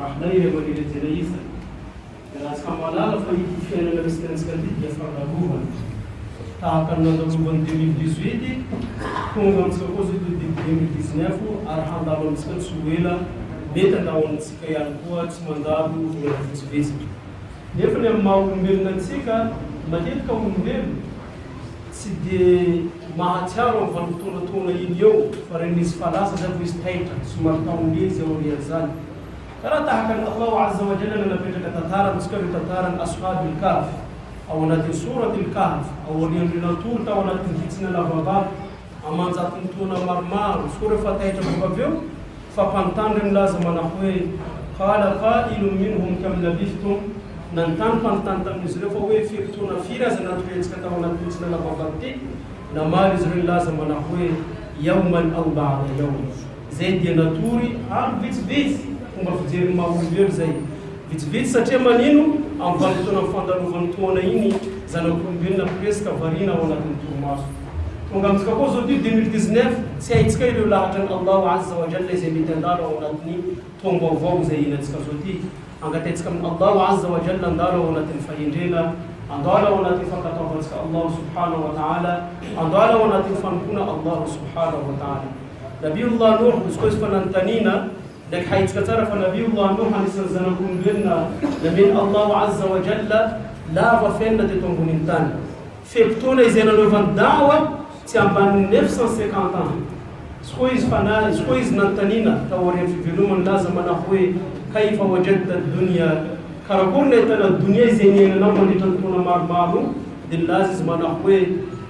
Rahalay ilay manery antsena iza? Dia raha tsy ka mahalala fa ity fiainana misy tenantsika ity dia fandalovana. Tahaka ny nandalovan'ny deux mille dix huit, tonga amintsika koa izao ity deux mille dix neuf ary handalo amintsika tsy ho ela, mety handao amintsika ihany koa tsy mandalo ela vitsivitsy. Nefa ny amin'ny maha olombelona antsika, matetika olombelona, Tsy dia mahatsiaro amin'ny vanimpotoana toana iny eo fa reny misy falaza zay vao izy taitra, somary taon'ny ela izy aorian zany. Ka raha tahaka ny Allahu Azza wa Jalla no napetraka tantara amintsika ireo tantaran'i Aswhab al-Kahf ao anatin'ny Sourat al-Kahf aorian'ireo natory tao anatin'ny hitsina lava vato, Aman-jatony taona maromaro. Fora fa taitra bôka avy eo, fa mpanontany reny laza manako hoe, Hala pa ilo min hum kami lavih tum? Nanontany mpanontany tamin'izy ireo fa hoe firy taona firy aza na toy hetsika tao anatin'ity tsy lala-baovao ity? Namaly izy ireo ny laza manako hoe, Yawman aw ba'da yawm. Izay dia natory amiko vitsivitsy fomba fijerin'ny maha olombelo izay. Vitsivitsy satria manino amin'ny vanim-potoanan'ny fandalovan'ny taona iny zanak'olombelona presque variana ao anatin'ny torimaso. Tonga amintsika koa izao ity deux mille dix-neuf tsy haintsika ireo lahatran'i Allahu Azza wa Jalla izay mety handalo ao anatin'ny taom-baovao izay hiainantsika izao ity. Angataintsika amin'i Allahu Azza wa Jalla handalo ao anatin'ny fahendrena, handalo ao anatin'ny fankatoavantsika Allahu Subhanahu wa Ta'ala, handalo ao anatin'ny fanompoana Allahu Subhanahu wa Ta'ala. Nabiullah Nuh, izy koa izy fa nanontaniana ndraiky haitsika tsara fa Nabiullah Nuh anisan'ny zanak'olombelona namen'i Allah Azza wa Jalla lava fiainana teto ambonin'ny tany. Fe-potoana izay nanaovany da'wa tsy ambanin'ny neuf cent cinquante ans. Izy koa izy fa na, izy koa izy nanontaniana taorian'ny fivelomany nilaza manao hoe, Kayfa wajadta ad-dunya, karakory nahitana donia izay niainanao mandritra ny taona maromaro? Dia nilaza izy manao hoe,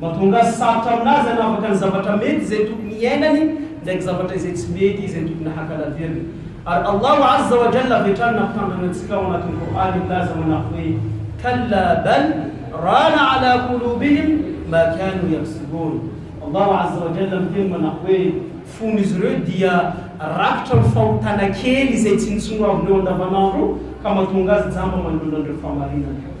Mahatonga azy sarotra amin'azy hanavaka ny zavatra mety izay tokony hiainany ndraiky zavatra izay tsy mety izay tokony hakalaviriny. Ary Allahu Azza wa Jalla avy hatrany nampitandrina antsika ao anatin'ny Qur'an milaza manako hoe, Kalla bal rana ala qulubihim ma kanu yaksibun. Allahu Azza wa Jalla miteny manako hoe, Fon'izy ireo dia rakitra amin'ny fahotana kely izay tsinontsinoavin'ireo andavanandro ka mahatonga azy jamba manoloana an'ireo fahamarinana.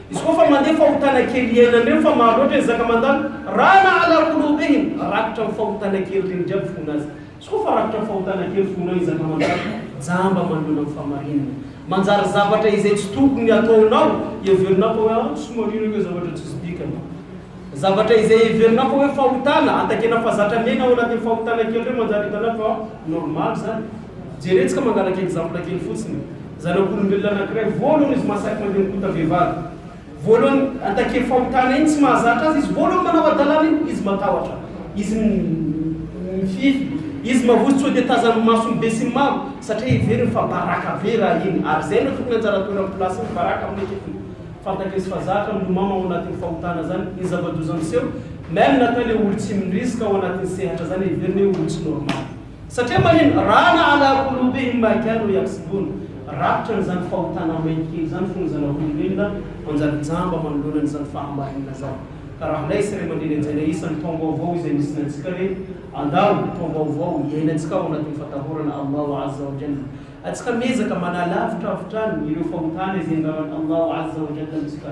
Izy koa fa mandeha fahotana kely iainana eo fa maro loatra ny zaka mandalo raha nahalaro ho lo be iny rakitra ny fahotana kely reny jiaby fona azy izy koa fa rakitra ny fahotana kely fonao ny zaka mandalo jamba manoloana ny fahamarinana manjary zavatra izay tsy tokony ataonao heverinao fa hoe ah tsy marina io zavatra tsisy dikany zavatra izay heverinao fa hoe fahotana atakena fa zatra miaina ao anatin'ny fahotana kely reny manjary hitanao fa normal zany Jerentsika manaraka exemple kely fotsiny, zanak'olombelona anakiray voalohany izy mahasahy mandeha mikota vehivavy, voalohany attaquer fahotana iny tsy mahazatra azy izy, voalohany manao hadalana iny izy matahotra, izy mifify, izy mavozo tsy hode tazan'ny mason'ny be sy ny maro satria heveriny fa baraka be raha iny ary zay no tokony anjara toeran'ny place ny baraka amin'ny ankipobeny, fantany izy fa zatra milomano ao anatin'ny fahotana zany, ny zava-doza miseho, meme natao le olo tsy miriska ao anatin'ny sehatra zany heveriny hoe olo tsy normal. Satria manino? Rana ala Kolobe i Maika no ihatsiboana. Rakitra an'izany fahotana mainty kely izany fony zanak'olombelona manjary jamba manoloana an'izany fahamarinana izany. Ka raha ilay sy ray aman-dreny hajaina isan'ny taom-baovao izay misy ny antsika ireny, andao, taom-baovao iainantsika ao anatin'ny fatahorana Allahu Azza wa Jalla. Atsika miezaka manala avitravitrany ireo fahotana izay angavan'i Allahu Azza wa Jalla amintsika.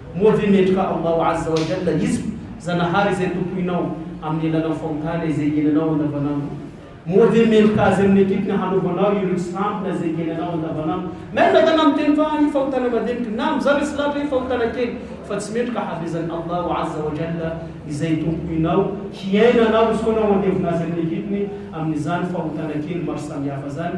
Moa ve mendrika Allahu Azza wa Jalla hizotra, Zanahary izay tompoinao, amin'ny alalan'ny fahotana izay iainanao andavanandro? Moa ve mendrika Azy amin'ny atrikiny hanaovanao ireo tsy tampina izay iainanao andavanandro? Mailo ny adala miteny fa io fahotana madiniky na amin'izany hoe tsy lahatra hoe fahotana kely, fa tsy mendrika hahavezan'i Allahu Azza wa Jalla izay tompoinao hiaina anao hisoanao handevona Azy amin'ny atrikiny amin'izany fahotana kely maro samihafa izany,